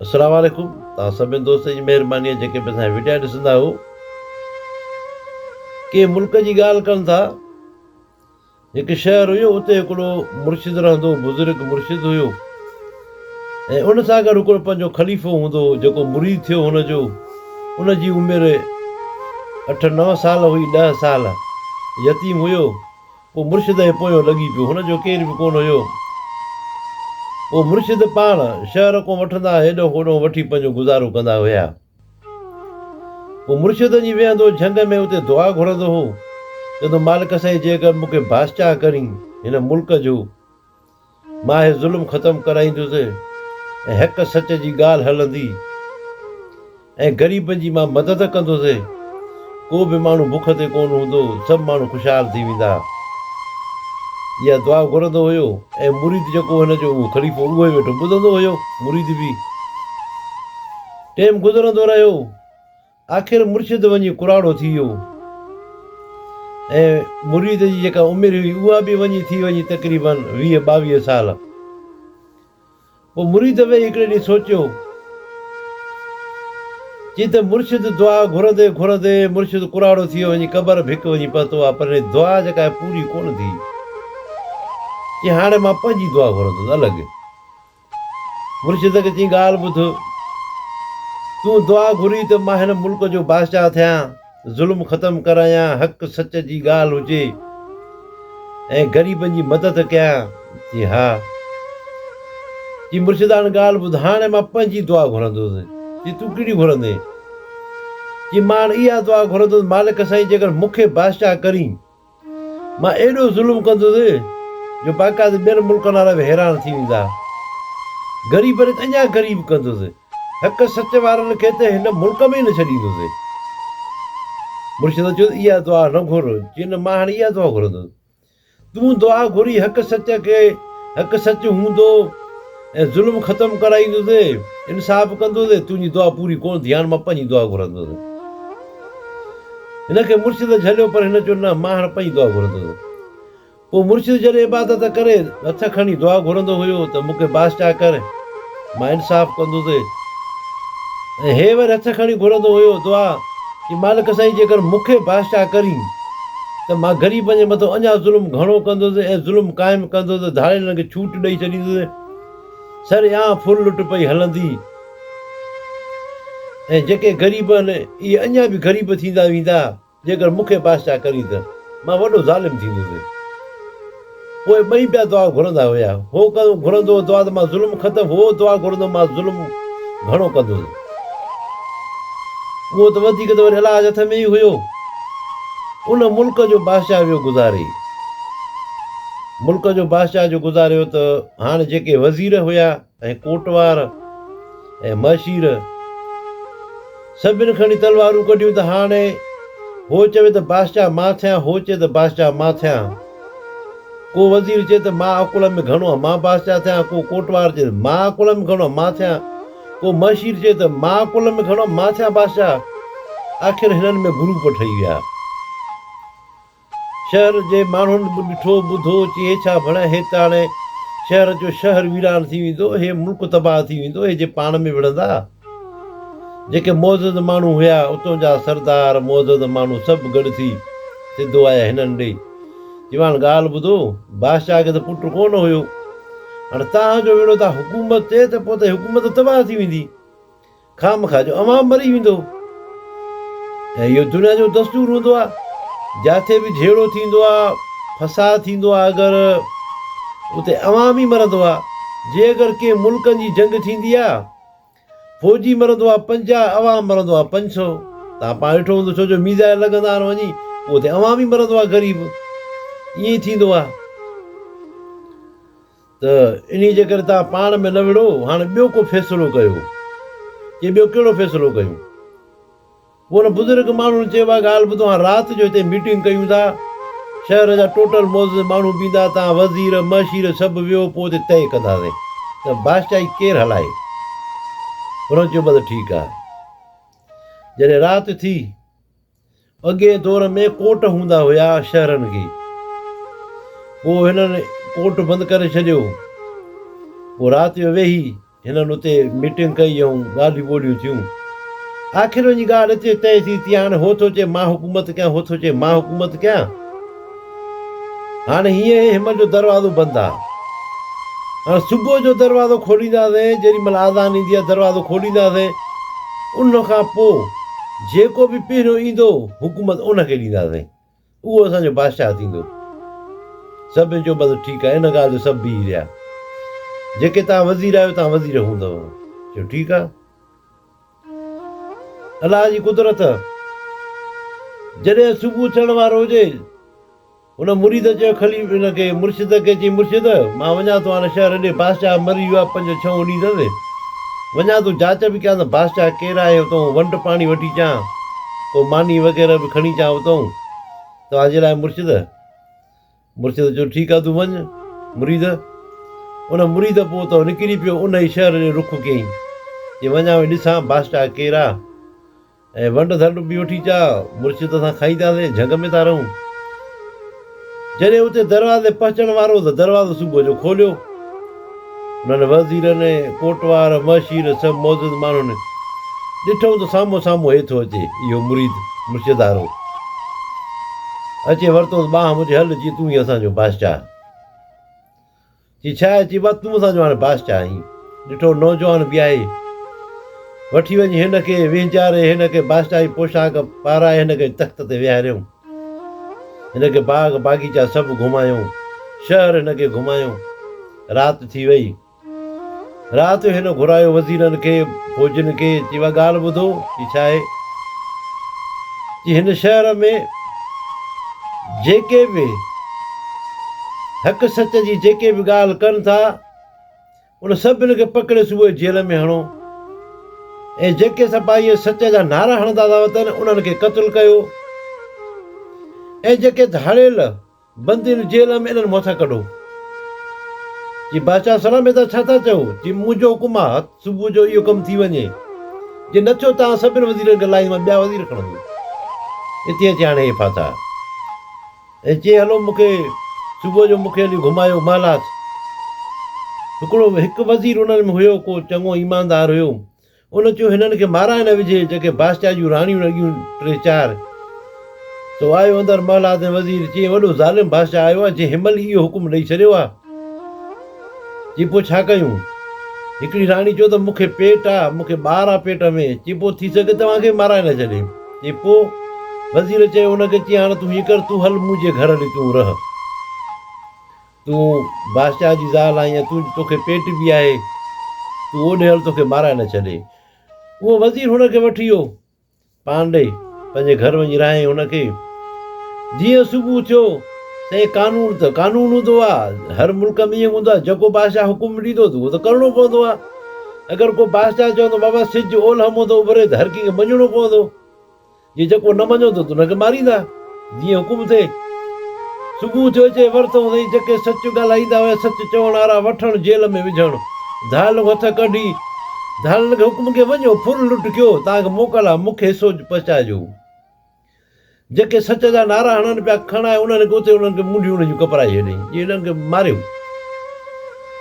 السلام عليڪم توهان سڀني دوستن جي مهرباني آهي جيڪي به اسان جا وڊيا ڏسندا آهيو ڪنهن ملڪ جي ڳالهه ڪن ٿا هڪ شهر هيو اتي هڪڙو مرشد رهندو هو بزرگ مرشد هيو ۽ ان سان گڏ هڪڙو پنهنجو خليفو هوندو هو جيڪو مريد ٿيو هن جو ان جي عمر اٺ نو سال هئي ڏهه سال يتيم هيو پوء مرشد جي پويو لڳي پيو. هن جو ڪير به ڪونه هيو. پوء مرشد پاڻ شهر کان وٺندا هيڏانهن هوڏانهن وٺي پنهنجو گذارو ڪندا هيا. پوء مرشد وڃي ويهندو جهنگ ۾ اتي دعا گهرندو هو. چوندو مالڪ سائين جيڪر مون کي بادشاهه ڪرين هن ملڪ جو. مان هي ظلم ختم ڪرائيندس ۽ حق سچ جي ڳالهه هلندي ۽ غريبن جي مان مدد ڪندس. ڪو به ماڻهو بک تي ڪونه هوندو، سڀ ماڻهو خوشحال ٿي ويندا. اها دعا گهرندو هيو ۽ مريد جيڪو هن جو هو خليفو اهو ئي ويٺو ٻڌندو هيو. مريد به ٽيم گذرندو رهيو. آخر مرشد وڃي ڪراڙو ٿي ويو ۽ مريد جي جيڪا عمر هئي اها به وڃي ٿي وڃي تقريباً ويهه ٻاويهه سال. پوء مريد ويهي هڪڙي ڏينهن سوچيو چي ته مرشد دعا گهرندي گهرندي مرشد ڪراڙو ٿي ويو وڃي قبر به هڪ وڃي پهتو آهي پر هن دعا جيڪا آهي پوري ڪونه ٿي چي هاڻي مان پنهنجي دعا گهرندس الڳ. مرشد کي چيائين ڳالهه ٻڌ، تون دعا گهرين ته مان هن ملڪ جو بادشاهه ٿيان، ظلم ختم ڪرايان، حق سچ جي ڳالهه هجي ۽ غريبن جي مدد ڪيان. چي ها. چي مرشد هاڻ ڳالهه ٻڌ، هاڻي مان پنهنجي دعا گهرندس. چي تون ڪهڙي گهرندين؟ چي مان هاڻ اها دعا گهرندس، مالڪ سائين جيڪر مون کي بادشاهه ڪرين مان ايڏو ظلم ڪندس جو باقاعدي ٻين ملڪن وارا به حيران ٿي ويندا. غريبن کي اڃا غريب ڪندس. حق سچ وارن کي ته هن ملڪ ۾ ئي نه ڇڏيندس. مرشد چيس اها دعا نه گهر. چيس نه مان هاڻي اها دعا گهرندس. تون دعا گهري حق سچ کي حق سچ هوندو. ۽ ظلم ختم ڪرائيندوسين انصاف ڪندوسين تنهنجي دعا پوري ڪونه ٿي هاڻ مان پنهنجي دعا گهرندوسين هن کي مرشد جهليو پر هن چيو نه مان هاڻ پنهنجي دعا گهرندوسين پوء مرشد جڏهن عبادت ڪري هٿ کڻي دعا گهرندو هيو ته مون کي بادشاهه ڪر مان انصاف ڪندوسين ۽ هي وري هٿ کڻي گهرندو هيو دعا ڪي مالڪ سائين جيڪر مون کي بادشاهه ڪرين ته مان غريبن جي مٿان اڃا ظلم گهڻو ڪندس ۽ ظلم قائم ڪندس، ڌاڙيلن کي ڇوٽ ڏئي ڇڏيندس ۽ سرعام ڦر لٽ پئي هلندي ۽ جيڪي غريب آهن اهي اڃا به غريب ٿيندا ويندا، جيڪر مون کي بادشاهه ڪرين ته مان وڏو ظالم ٿيندس. پوء ٻئي پيا دعا گهرندا هيا. هو ڪنهن گهرندو هو دعا ته مان ظلم ختم هو دعا گهرندو مان ظلم گهڻو ڪندو سان. اهو ته وڌيڪ ته وري الله جي هٿ ۾ ئي هيو. ان ملڪ جو بادشاهه ويو گذاري. ملڪ جو بادشاهه جو گذاريو ته هاڻ جيڪي وزير هيا. ۽ ڪوٽوار ۽ مهشير سڀن کڻي تلوارون ڪڍيون ته هاڻي هو چوي ته بادشاهه مان ٿيان هو چئي ته بادشاهه مان ٿيان ڪو وزير چئي ته مان اڪولهه ۾ گهڻو آهيان مان بادشاهه ٿيان ڪو ڪوٽوار چئي ته مان اڪولهه ۾ گهڻو آهيان مان ٿيان ڪو مهشير چئي ته مان اڪولهه ۾ گهڻو آهيان مان ٿيان بادشاهه آخر هنن ۾ گروپ ٺهي ويا. شهر جي ماڻهن به ڏٺو ٻڌو چي هي ڇا ڀڻ هي ته هاڻي شهر جو شهر ويران ٿي ويندو هي ملڪ تباهه ٿي ويندو هي جي پاڻ ۾ وڙهندا جيڪي معزز ماڻهو هيا اتون جا سردار معزز ماڻهو سڀ گڏ ٿي سڌو آيا هنن ڏي چي واڻ ڳالهه ٻڌو بادشاهه کي ته پٽ ڪو نه هيو هاڻي تهان جو ويڙهو ٿا حڪومت تي ته پوء ته حڪومت تباهه ٿي ويندي. خامخواه جو عوام مري ويندو ۽ اهو دنيا جو دستور هوندو آهي جاٿي به جهيڙو ٿيندو آهي فساد ٿيندو آهي اگر اتي عوام ئي مرندو آهي جي اگر ڪنهن ملڪن جي جنگ ٿيندي آهي فوجي مرندو آهي پنجاهه عوام مرندو آهي پنج سو تان پاڻ ڏٺو هوندو ڇو جو ميزائل لڳندا آهن وڃي پوء اتي عوام ئي مرندو آهي غريب ائين ٿيندو آهي ته انهيء جي ڪري توهان پاڻ ۾ نه وڙهو، هاڻي ٻيو ڪو فيصلو ڪيو. چي ٻيو ڪهڙو فيصلو ڪيون؟ پوء ان بزرگ ماڻهن چيو اها ڳالهه ٻڌو، هاڻ رات جو هتي ميٽنگ ڪيون ٿا، شهر جا ٽوٽل معزز ماڻهو به ايندا، توهان وزير، معشير سڀ ويهو، پوء اتي طئي ڪنداسين ته بادشاهي ڪير هلائي. هنن چيو بس ٺيڪ آهي. جڏهن رات ٿي. اڳئين دور ۾ ڪوٽ هوندا هيا شهرن کي پوء هنن ڪوٽ بند ڪري ڇڏيو پوء رات جو ويهي هنن اتي ميٽنگ ڪئي ۽ ڳالهيون ٻولهيون ٿيون آخر وڃي ڳالهه اتي طئي ٿي تي هاڻي هو ٿو چئي مان حڪومت ڪيان هو ٿو چئي مان حڪومت ڪيان هاڻي هينئر هي همن جو دروازو بند آ. هاڻي صبح جو دروازو کولينداسين، جيڏي مهل آذان ايندي آ دروازو کولينداسين. ان کان پوء جيڪو به پهريون ايندو حڪومت ان کي ڏينداسين. اهو اسان جو بادشاهه ٿيندو. سڀني چيو بس ٺيڪ آ. ان ڳالهه جو سڀ بيهي رهيا. جيڪي توهان وزير آهيو توهان وزير هوندؤ. چيو ٺيڪ آ. الله جي قدرت، جڏهن صبح ٿيڻ وارو هجي، هن مريد چيو خليف هن کي مرشد کي چئي مرشد! مان وڃان ٿو هاڻي شهر ڏي، بادشاهه مري ويو آهي، پنج ڇهون ڏينهن ٿيا سين، وڃان ٿو جاچ به ڪيان ته بادشاهه ڪير آهي، اتئون ونڊ پاڻي وٺي اچان، ڪو ماني وغيره به کڻي اچان اتئون، توهان جي لاء مرشد! مرشد چيو ٺيڪ آ تون وڃ مريد. ان مريد پوء اتان نڪري پيو ان ئي شهر ڏي رخ ڪيائين جي وڃان وڃي ڏسان بادشاهه ڪير آ ۽ ونڊ ڌنڊ به وٺي چا مرشد سان کائينداسين جهنگ ۾ ٿا رهون. جڏهن اتي دروازي پهچڻ وارو هو ته دروازو صبح جو کوليو. انهن وزيرن، ڪوٽوار، معشير سڀ معزز ماڻهن ڏٺو ته سامهون سامهون هي ٿو اچي، اهو مريد مرشدارو اچي ورتوس ٻانهن منهنجي، هل چي تون ئي اسان جو بادشاهه. چي ڇا آهي؟ چي بس تون اسان جو هاڻي بادشاهه آهين. ڏٺو نوجوان بيهائي، وٺي وڃي هن کي وهنچاري هن کي بادشاهي پوشاڪ پارائي هن کي تخت تي ويهاريائون. هن کي باغ باغيچا سڀ گهمايائون. شهر هن کي گهمايائون. رات ٿي وئي. رات جو هن گهرايو وزيرن کي، فوجين کي، چي اها ڳالهه ٻڌو، چي ڇا آهي؟ چي هن شهر ۾ جيڪي به حق سچ جي جيڪي به ڳالهه ڪن ٿا، ان سڀني کي پڪڙي صوبائي جيل ۾ هڻو ۽ جيڪي سپاهي سچ جا نعرا هڻندا ٿا وتن انهن کي قتل ڪيو ۽ جيڪي ڌاڙيل بندين جيل ۾ انهن موٿا ڪڍو. چي بادشاهه سلام ادا ڇا ٿا چئو؟ چي منهنجو حڪم آ هت صبح جو اهو ڪم ٿي وڃي جي نه ٿيو تان سڀني وزيرن کي لاهي مان ٻيا وزير کڻندو اتي اچي هاڻي هي ڦاٿا. هي چئي هلو مون کي صبح جو مون کي هلي گهمايو مالات. هڪڙو هڪ وزير انهن ۾ هيو ڪو چڱو ايماندار هيو. ان چيو هنن کي مارائي نه وجهي جيڪي بادشاهه جون راڻيون لڳيون ٽي چار. سو آيو اندر مالات ۽ وزير چيائين وڏو ظالم بادشاهه آيو آهي جنهن هنمهل ئي اهو حڪم ڏئي ڇڏيو آهي. چي پوء ڇا ڪيون؟ هڪڙي راڻي چيو ته مون کي پيٽ آ، مون کي ٻار آ پيٽ ۾، چي پوء ٿي سگهي توهان کي مارائي نه ڇڏي. چي پوء؟ وزير چيو ان کي، چي هاڻ تون هيئن ڪر، تون هل منهنجي گهر هلي تون رهه. تون بادشاهه جي زال آهين ۽ تون تو کي پيٽ به آهي، تون اوڏي هل تو کي مارائي نه ڇڏي. اهو وزير هن کي وٺي ويو. پاڻ ڏئي پنهنجي گهر وڃي رهيائين هن کي جيئن صبح ٿيو سائين قانون ته قانون هوندو آ هر ملڪ ۾ ائين هوندو آ جيڪو بادشاهه حڪم ڏيندو ته اهو ته ڪرڻو پوندو آ اگر ڪو بادشاهه چوندو بابا سج اولهه مون تي اڀري ته هر ڪنهن کي مڃڻو پوندو جي جيڪو نه مڃيو ته ان کي ماريندا. جيئن حڪم ٿئي. صبح ٿيو چئي ورتئون سائين جيڪي سچ ڳالهائيندا هيا سچ چوڻ وارا وٺڻ جيل ۾ وجهڻ ڌائلگ هٿ ڪڍي ڌائلگ حڪم ڪيو وڃو ڦر لٽ ڪيو توهان کي موڪل آهي مون کي حصو پهچائجو جيڪي سچ جا نعرا هڻن پيا کڻ آهي انهن کي اتي انهن کي منڊيون انهن جون ڪپرائي ڇڏين جي هنن کي ماريو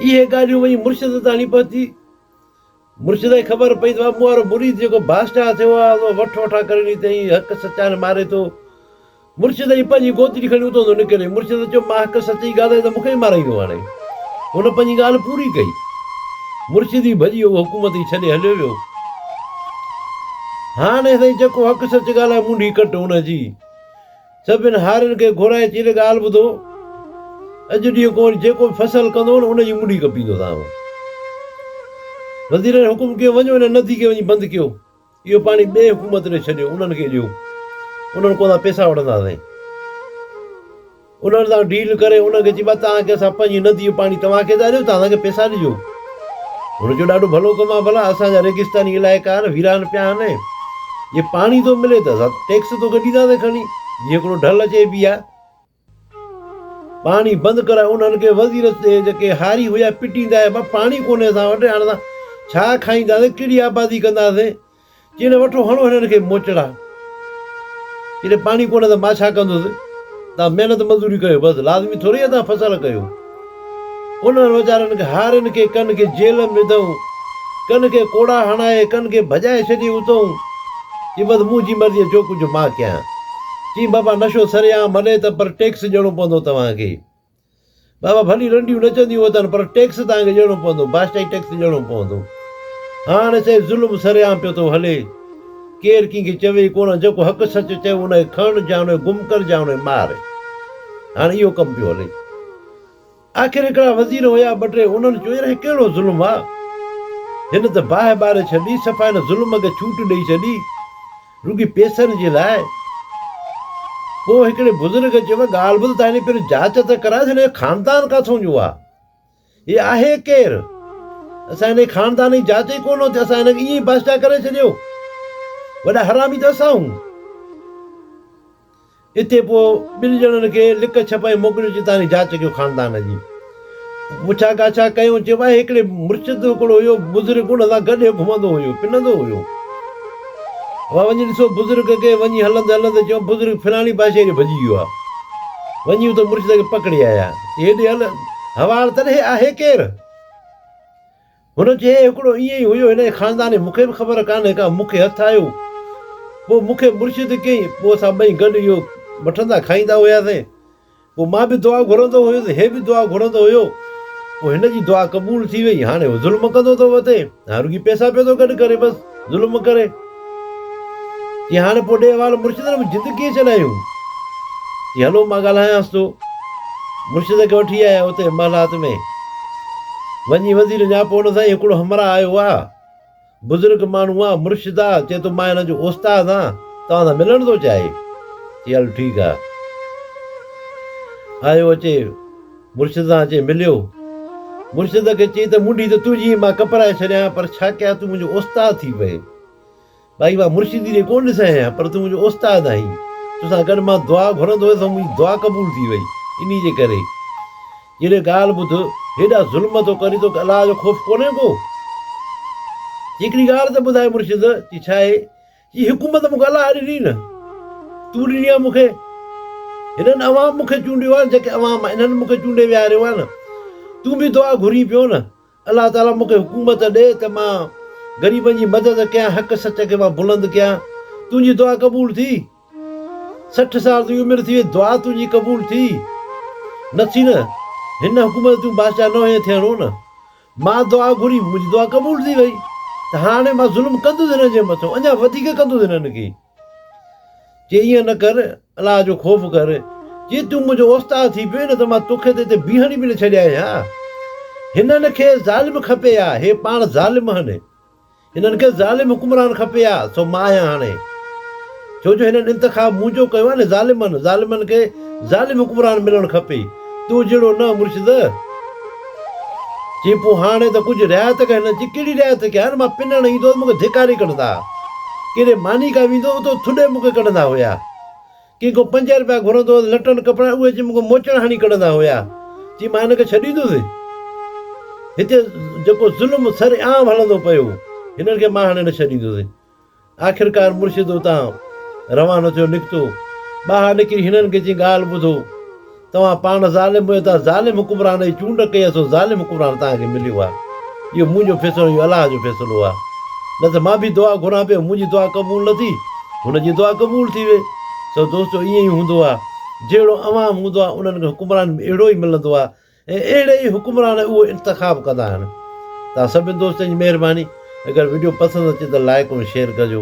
اهي ڳالهيون وڃي مرشد تاڻي پهتي مرشد کي خبر پئي ته اهو مون وارو مريد جيڪو بادشاهه ٿيو آهي سو وٺ وٺان ڪري ڏئي تنهن حق سچا ني ماري ٿو. مرشد جي پنهنجي گوتڙي کڻي اتان ٿو نڪري. مرشد چيو مان حق سچي ڳالهائين ته مون کي ئي مارائيندو هاڻي. هن پنهنجي ڳالهه پوري ڪئي. مرشد ئي ڀڄي اهو حڪومت ئي ڇڏي هليو ويو. هاڻي سائين جيڪو حق سچ ڳالهائي منڍي ڪٽ ان جي. سڀني هارين کي گهرائي چيلي ڳالهه ٻڌو، اڄ ڏينهن کان جيڪو به فصل ڪندو نه ان جي منڊي ڪپيندوسان. وزيرن حڪم ڪيو وڃو ان ندي کي وڃي بند ڪيو، اهو پاڻي ٻئي حڪومت ڏي ڇڏيو، انهن کي ڏيو، انهن کان اسان پيسا وٺنداسين. انهن سان ڊيل ڪري انهن کي چئبا توهان کي اسان پنهنجي ندي جو پاڻي توهان کي ٿا ڏيون، توهان اسان کي پيسا ڏجو. هن چيو، ڏاڍو ڀلو ڪم آهي ڀلا اسان جا ريگستاني علائقا آهن ويران پيا آهن ۽ جي پاڻي ٿو ملي ته اسان ٽيڪس توکي ڏينداسين کڻي جيئن هڪڙو ڍل اچي بي آهي پاڻي بند ڪرايو انهن کي وزير چي جيڪي هاري هيا پٽيندا هيا پاڻي ڪونهي اسان وٽ هاڻي اسان ڇا کائينداسين ڪهڙي آبادي ڪنداسين چينه وٺو هڻو هنن کي موچڙا. جڏهن پاڻي ڪونه ته مان ڇا ڪندس. تان محنت مزوري ڪيو بس لازمي ٿوري اتان فصل ڪيو. انهن ويچارن کي هارين کي ڪن کي جيل م وڌئون. ڪن کي ڪوڙا هڻائي ڪن کي ڀڄائي ڇڏي اتئون. چي بس منهنجي مرضي جو ڪجهه مان ڪيان. چي بابا نشو سري عام هلي ته پر ٽيڪس ڏيڻو پوندو توهان کي. بابا ڀلي رنڊيون نچنديون وتن پر ٽيڪس توهان کي ڏيڻو پوندو، بادشاهي ٽيڪس ڏيڻو پوندو. هاڻ سائين ظلم سرعام پيو ٿو هلي. ڪير ڪنهن کي چوي ئي ڪونه. جيڪو حق سچ چيو ان کي کڻ جا ان کي گم ڪر جا ان کي مار. هاڻ اهو ڪم پيو هلي. آخر هڪڙا وزير هيا ٻه ٽي انهن چيو يار هي ڪهڙو ظلم آ. هن ته باهه ٻاري ڇڏي صفا هن ظلم کي ڇوٽ ڏئي ڇڏي. رڳي پيسن جي لاء. پوء هڪڙي بزرگ چيو، ڳالهه ٻڌ ته هلي پهريون جاچ ته ڪرائيس هن جو خاندان ڪاٿون جو آهي؟ هي آهي ڪير؟ اسان هن جي خاندان جي جاچ ئي ڪونه ٿي، اسان هن کي ائين ئي بادشاهه ڪري ڇڏيو؟ وڏا حرامي ته اسان آهيون. اتي پوء ٻن ڄڻن کي لڪ ڇپ ۽ موڪليو جتان هي جاچ ڪيو خاندان جي پڇا ڳاڇا ڪيون چيو آهي هڪڙي مرشد هڪڙو هيو بزرگ ان سان گڏ هي گهمندو هيو پنندو هيو وا وڃي ڏسو بزرگ کي وڃي هلندي هلندي چيو بزرگ فلاڻي پاسي هيڏي ڀڄي ويو آهي وڃي اتي مرشد کي پڪڙي آيا هيڏي هل هوار تڏهي آهي ڪير؟ هن چيو، هي هڪڙو ائين ئي هيو، هن جي خاندان جي مون کي به خبر ڪانهي ڪا، مون کي هٿ آيو، پوء مون کي مرشد ڪيائين، پوء اسان ٻئي گڏ اهو وٺندا کائيندا هياسين، پوء مان به دعا گهرندو هيس، هي به دعا گهرندو هيو، پوء هن جي دعا قبول ٿي وئي، هاڻي هو ظلم ڪندو ٿو وتي، هاڻ رڳي پئسا پيو ٿو گڏ ڪري بس. ظلم ڪري چي هاڻي پوء ڏي احوال مرشد ۾ جند ڪيئن ڇڏايون چي هلو مان ڳالهايانس ٿو مرشد کي وٺي آيا اتي محلات ۾ وڃي وزير نياپو ان سان هڪڙو همراهه آيو آ بزرگ ماڻهو آ مرشد آ چي ٿو مان هن جو استاد آ توهان سان ملڻ ٿو چاهي چي هل ٺيڪ آ آيو اچي مرشد سان اچي مليو. مرشد کي چئي ته منڍي ته تنهنجي هي مان ڪپرائي ڇڏيان پر ڇا ڪيان تون منهنجو استاد ٿي پئي. ٻائي مان مرشدي ڏي ڪونه ڏسين آهيان پر تون منهنجو استاد آهين. توسان گڏ مان دعا گهرندو هيس سو منهنجي دعا قبول ٿي وئي. انهي جي ڪري جيڏي ڳالهه ٻڌ هيڏا ظلم ٿو ڪرين توکي الله جو خوف ڪونهي ڪو. چي هڪڙي ڳالهه ته ٻڌاء مرشد چي ڇا آهي؟ هي حڪومت مون کي الله ڏني نه، تون ڏني آهي مون کي. هنن عوام مون کي چونڊيو آهي نه جيڪي عوام انهن مون کي چونڊي ويهاريو آهي نه. تون به دعا گهرين پيو نه الله تعاليٰ مون کي حڪومت ڏي ته مان غريبن جي مدد ڪيان، حق سچ کي مان بلند ڪيان. تنهنجي دعا قبول ٿي. سٺ سال تنهنجي عمر ٿي وئي، دعا تنهنجي قبول ٿي نه ٿي نه. هن حڪومت تون بادشاهه نه هئين ٿيڻو نه. مان دعا گهري، منهنجي دعا قبول ٿي وئي ته هاڻي مان ظلم ڪندس هنن جي مٿو، اڃا وڌيڪ ڪندس هنن کي. چيائين، ائين نه ڪر، الله جو خوف ڪر. جي تون منهنجو اوستاد ٿي پئين نه ته مان توکي ته هتي بيهڻ ئي به نه ڇڏيان ها. هنن کي ظالم کپي ها، هي پاڻ ظالم آهن. هنن کي ظالم حڪمران کپي ها سو مان آهيان هاڻي ڇو جو هنن انتخاب منهنجو ڪيو آهي نه ظالمن ظالمن کي ظالم حڪمران ملڻ کپي تو جهڙو نه مرشد چي پو هاڻي ته ڪجهه رعايت ڪر هنن چي ڪهڙي رعايت ڪيان مان پنڻ ايندو هوس مون کي ڌڪاري ڪڍندا ها ڪيڏي ماني ڪا ويندو هوس تو ٿڏي مون کي ڪڍندا هيا ڪي ڪو پنج رپيا گهرندو هو ته لٽن ڪپڙن اهي چي مون کان موچڙا هڻي ڪڍندا هيا. چي مان هن کي ڇڏيندس؟ هتي جيڪو ظلم سر عام هلندو پيو، هنن کي مان هاڻي نه ڇڏيندس. آخرڪار مرشد اتان روانو ٿيو نڪتو. ٻاهر نڪري هنن کي چيائين ڳالهه ٻڌو. توهان پاڻ ظالم هيو ته ظالم حڪمران جي چونڊ ڪئي سو ظالم حڪمران توهان کي مليو آهي اهو منهنجو فيصلو نه اهو الله جو فيصلو آهي نه ته مان به دعا گهران پيو منهنجي دعا قبول نه ٿي هن جي دعا قبول ٿي وئي سو دوستو ائين ئي هوندو آهي جهڙو عوام هوندو آهي انهن کي حڪمران به اهڙو ئي ملندو آهي ۽ اهڙي ئي حڪمران اهو انتخاب ڪندا آهن توهان سڀني دوستن جي مهرباني اگر وڊيو پسند اچي ته لائڪ ۽ شيئر ڪجو.